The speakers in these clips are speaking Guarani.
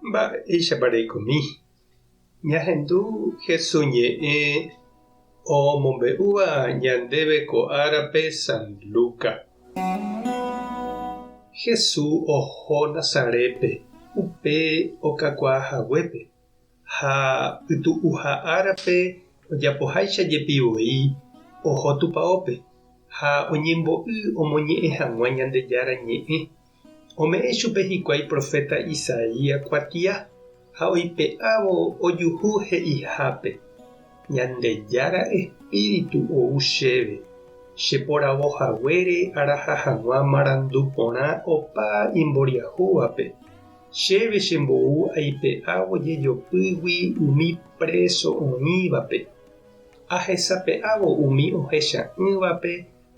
Mba'éichapa reikomi ñahendu Jesús ñe'ẽ omombe'úva ñandéve ko árape San Luca? Jesús oho Nazarétpe upe okakuaa haguépe, ha pytu'uha árape ojapoháicha jepi voi oho tupaópe ha oñembo'y omoñe'ẽ hag̃ua Ñandejára Ñe'ẽ Ome'ẽ chupe hikuái proféta Isaías kuatia ha oipe'ávo ojuhu he'ihápe, Ñandejára Espíritu ou chéve, che poravo haguére araha hag̃ua marandu porã opa imboriahúvape, chéve che mbou aipe'ávo jejopýgui umi préso oĩvape, ahesape'ávo umi ohecha'ỹvape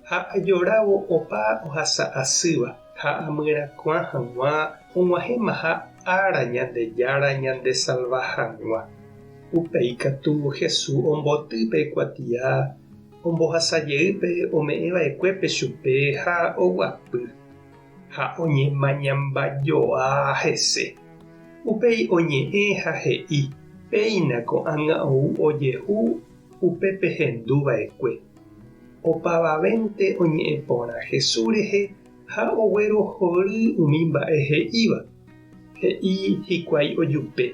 ha ajorávo opa ohasa asýva ha amyrakuã hag̃ua og̃uahẽmaha ára Ñandejára ñandesalva hag̃ua. Upéi katu Hesu omboty pe kuatia ombohasa jeýpe ome'ẽva'ekuépe chupe ha oguapy, ha oñemañamba joa hese. Upéi oñe'ẽ ha he'i, Péina ko'ág̃a ou ojehu Upe pehendu va'ekue, opavavénte oñe'ẽ porã Jesús rehe ha oguerohory umi mba'e he'íva. He'i hikuái ojupe,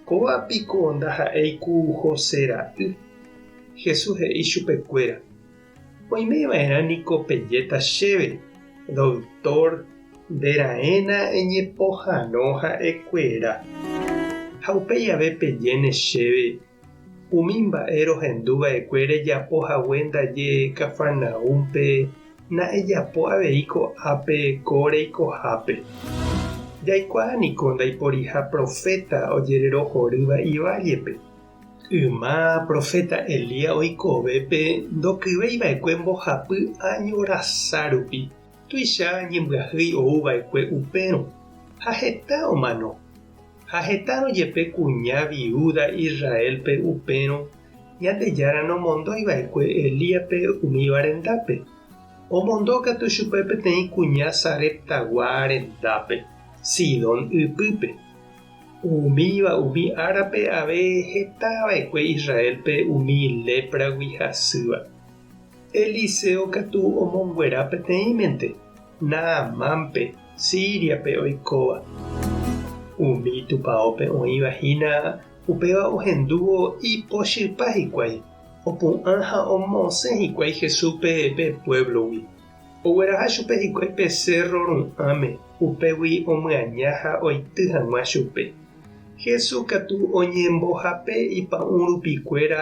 Kóva piko ndaha'éi ku José ra'y? Jesús he'i chupekuéra, Oime va'erã niko pejéta chéve, Doktór, nde raẽna eñepohãno ha'e kuéra. Ha upéi jave pejéne chéve, Umi mba'e rohendu va'ekue rejapo hague ndaje Cafarnaúmpe, na'ejapo avei ko'ápe ko reikohápe. Jaikuaa niko ndaiporiha proféta ojererohorýva ivállepe. Yma proféta Elías oikove pe ndokyvei va'ekue mbohapy áño rasa rupi. tuicha ñembyahýi ou va'ekue upérõ, ha heta omano. Ha hetárõ jepe kuña viúda Israélpe upérõ, Ñandejára nomondói va'ekue Elíaspe umíva rendápe. Omondo katu chupe peteĩ kuña Sareptagua rendápe, Sidón ypýpe. Umíva umi árape ave heta va'ekue Israélpe umi lépragui hasýva. Eliseo katu omonguera peteĩmente Naamánpe Síriape oikóva. Umi tupaópe oĩva hína upéva ohendúvo ipochypa hikuái, opu'ã ha omosẽ hikuái Jesúspe pe puévlogui. Ogueraha chupe hikuái pe sérro ru'ãme, upégui omyaña ha oity hag̃ua chupe. Jesús katu oñembohape ipa'ũrupikuéra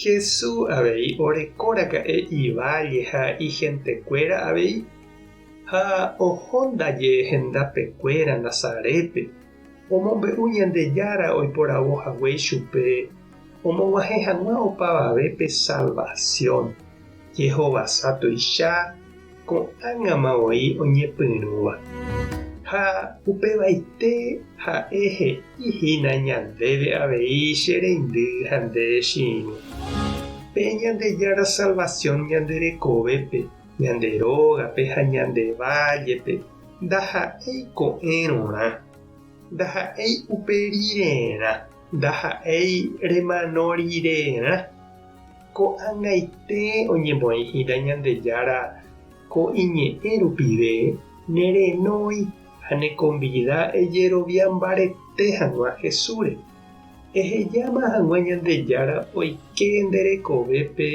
Hesu avei oreko raka'e iválle ha ihentekuéra avei, ha oho ndaje hendapekuéra Nazarépe, omombe'u Ñandejára oiporavo hague chupe omog̃uahẽ hag̃ua opavave pe salvasiõ, jehovasa tuicha. ko'ág̃ama voi oñepyrũva. Ha upevaite ha'e he'i hína ñandéve avei che reindy ha nde rechirũ. Pe Ñandejára salvación ñande rekovépe, ñande rógape ha ñande vállepe ndaha'éi ko'ẽrõrã, ndaha'éi upe rirerã, ndaha'éi remano rirerã. Ko'ag̃aite oñemoĩhína Ñandejára ko iñe'ẽ rupive, nerenói ha nekonvida ejerovia mbarete hag̃ua Jesúsre. Ehejáma hag̃ua Ñandejára oike nde rekovépe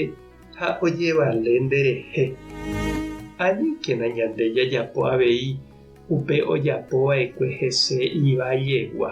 ha ojevale nderehe. Aníkena ñande jajapo avei upe ojapova'ekue hese ivaiegua.